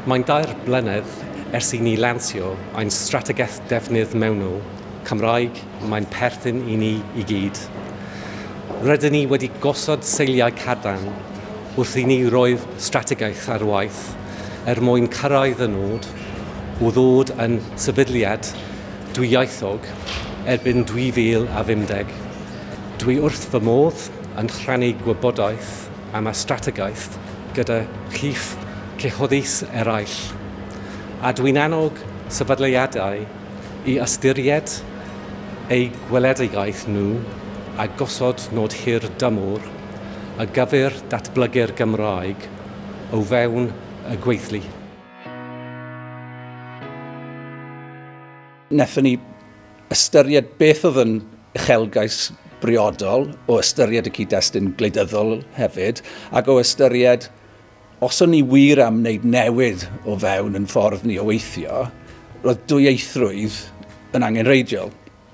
Mae'n dair blynedd ers i ni lansio ein strategaeth defnydd mewnol Cymraeg, mae'n perthyn i ni i gyd. Rydyn ni wedi gosod seiliau cadarn wrth i ni roi'r strategaeth ar waith er mwyn cyrraedd y nod o ddod yn sefydliad dwyieithog erbyn 2050. Dwi wrth fy modd yn rhannu gwybodaeth am y strategaeth gyda chi'ch cyhoeddus eraill, a dwi'n annog sefydliadau i ystyried eu gweledigaeth nhw a gosod nod hir dymor ar gyfer datblygu'r Gymraeg o fewn y gweithlu. Wnaethon ni ystyried beth oedd yn uchelgais briodol o ystyried y cyd-destun gwleidyddol hefyd, ac o ystyried os o'n ni wir am wneud newid o fewn yn ffordd ni o weithio, roedd dwyieithrwydd yn angenrheidiol.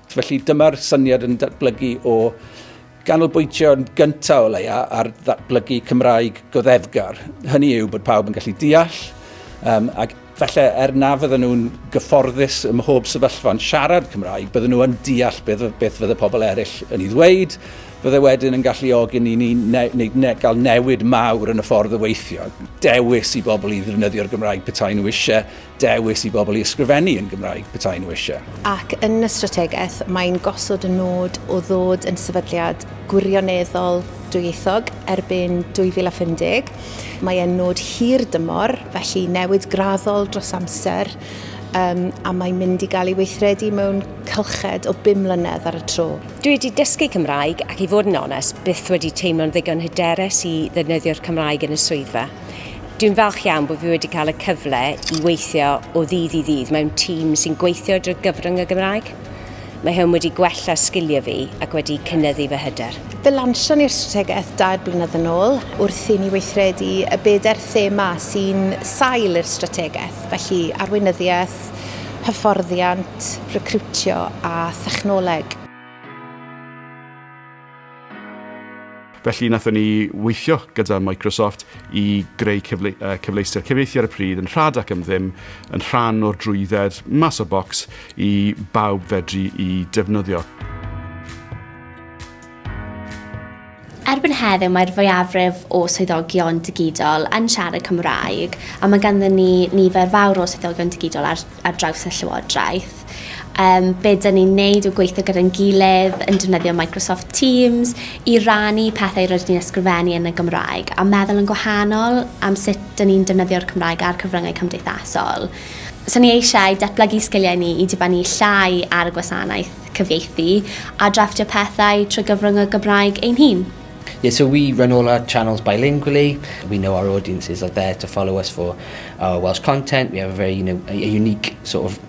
Felly dyma'r syniad yn datblygu o ganolbwyntio yn gyntaf o leia ar ddatblygu Cymraeg goddefgar. Hynny yw bod pawb yn gallu deall um, ac Falle er na fydden nhw'n gyfforddus ym mhob sefyllfa yn siarad Cymraeg, bydden nhw yn deall beth, beth fydde pobl eraill yn ei ddweud, fydde wedyn yn galluogi ni ni ne, ne, ne, gael newid mawr yn y ffordd o weithio. Dewis i bobl i ddefnyddio'r Gymraeg petai nhw eisiau, dewis i bobl i ysgrifennu yn Gymraeg petai nhw eisiau. Ac yn y strategaeth, mae'n gosod y nod o ddod yn sefydliad gwirioneddol dwyieithog erbyn 2050, Mae e'n nod hir dymor, felly newid graddol dros amser, um, a mae'n mynd i gael ei weithredu mewn cylched o bum mlynedd ar y tro. Dwi wedi dysgu Cymraeg ac i fod yn onest, byth wedi teimlo'n ddigon hyderus i ddefnyddio'r Cymraeg yn y swyddfa. Dwi'n falch iawn bod fi wedi cael y cyfle i weithio o ddydd i ddydd mewn tîm sy'n gweithio drwy gyfrwng y Gymraeg. Mae hwn wedi gwella sgiliau fi ac wedi cynyddu fy hyder. Fe lansion ni'r strategaeth dair blynedd yn ôl wrth i ni weithredu y bedair thema sy'n sail i'r strategaeth, felly arweinyddiaeth, hyfforddiant, recriwtio a thechnoleg. Felly nathon ni weithio gyda Microsoft i greu cyfle, uh, cyfleuster cyfieithu ar y pryd yn rhad ac yn ddim, yn rhan o'r drwydded mas o bocs i bawb fedru i defnyddio. Erbyn heddiw mae'r fwyafrif o swyddogion digidol yn siarad Cymraeg a mae ganddyn ni nifer fawr o swyddogion digidol ar, ar draws y Llywodraeth. gwaith, yym be 'dan ni'n neud yw gweithio gyda'n gilydd yn defnyddio Microsoft Teams i rannu pethau rydyn ni'n ysgrifennu yn y Gymraeg a meddwl yn gwahanol am sut 'dan ni'n defnyddio'r Cymraeg a'r cyfryngau cymdeithasol. So ni eisiau datblygu sgiliau ni i dibynnu llai ar y gwasanaeth cyfieithu a drafftio pethau trwy gyfrwng y Gymraeg ein hun. Yeah, so we run all our channels bilingually. We know our audiences are there to follow us for our Welsh content. We have a very, you know, a unique sort of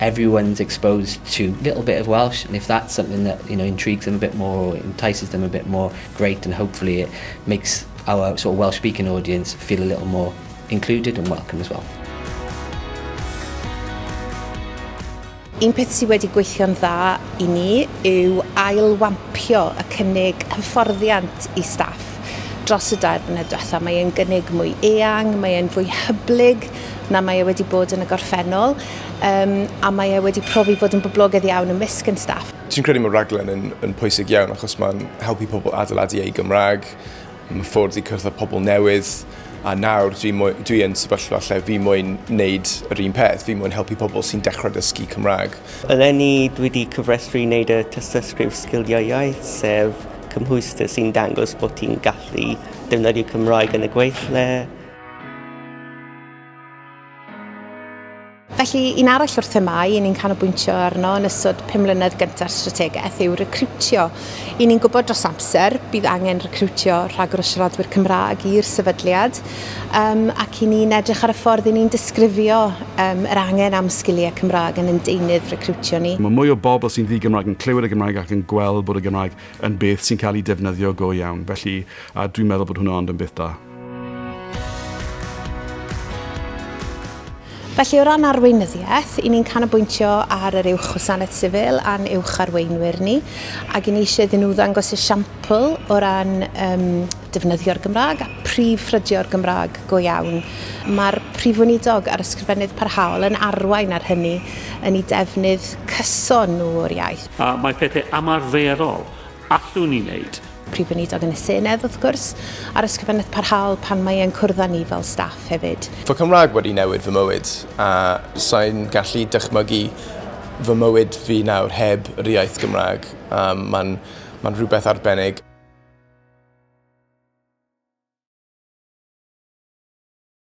everyone's exposed to little bit of Welsh and if that's something that you know intrigues them a bit more or entices them a bit more, great and hopefully it makes our sort of Welsh speaking audience feel a little more included and welcome as well. Un peth sydd wedi gweithio'n dda i ni yw ailwampio y cynnig hyfforddiant i staff dros y dair blynedd diwetha. Mae e'n gynnig mwy eang, mae e'n fwy hyblyg na mae e wedi bod yn y gorffennol. um, a mae e wedi profi fod yn boblogaidd iawn ymysg yn staff. Ti'n credu mae raglen yn, yn pwysig iawn achos mae'n helpu pobl adeiladu eu Gymraeg, mae ffwrdd i cyrraedd pobl newydd, a nawr dwi, mwy, dwi yn sefyllfa lle fi mwyn wneud yr un peth, fi mwyn helpu pobl sy'n dechrau dysgu Cymraeg. Eleni dwi wedi cyfrestru i wneud y tystysgrif sgiliau iaith, sef cymhwyster sy'n dangos bod ti'n gallu defnyddio Cymraeg yn y gweithle, Felly, un arall o'r themau i ni'n canolbwyntio arno yn ystod pum mlynedd gyntaf strategaeth yw recriwtio. I ni'n gwybod dros amser bydd angen recriwtio rhagor o siaradwyr Cymraeg i'r sefydliad um, ac i ni'n edrych ar y ffordd i ni'n disgrifio um, yr angen am sgiliau Cymraeg yn ein deunydd recriwtio ni. Mae mwy o bobl sy'n ddi-Gymraeg yn clywed y Gymraeg ac yn gweld bod y Gymraeg yn beth sy'n cael ei defnyddio go iawn, felly a dwi'n meddwl bod hwnna ond yn beth da. Felly o ran arweinyddiaeth, i ni'n canolbwyntio ar yr Uwch Wasanaeth Sifil a'n Uwch Arweinwyr ni, ac i ni eisiau iddyn nhw ddangos esiampl o ran um, defnyddio'r Gymraeg a prif ffrydio'r Gymraeg go iawn. Mae'r Prif Weinidog a'r Ysgrifennydd Parhaol yn arwain ar hynny yn ei defnydd cyson nhw o'r iaith. A mae pethau ymarferol Allwn ni wneud. Prif Weinidog yn y Senedd, wrth gwrs, a'r Ysgrifennydd Parhaol pan mae e'n cwrdd â ni fel staff hefyd. Fy Cymraeg wedi newid fy mywyd, a sai'n gallu dychmygu fy mywyd fi nawr heb yr iaith Gymraeg. Um, mae'n ma rhywbeth arbennig.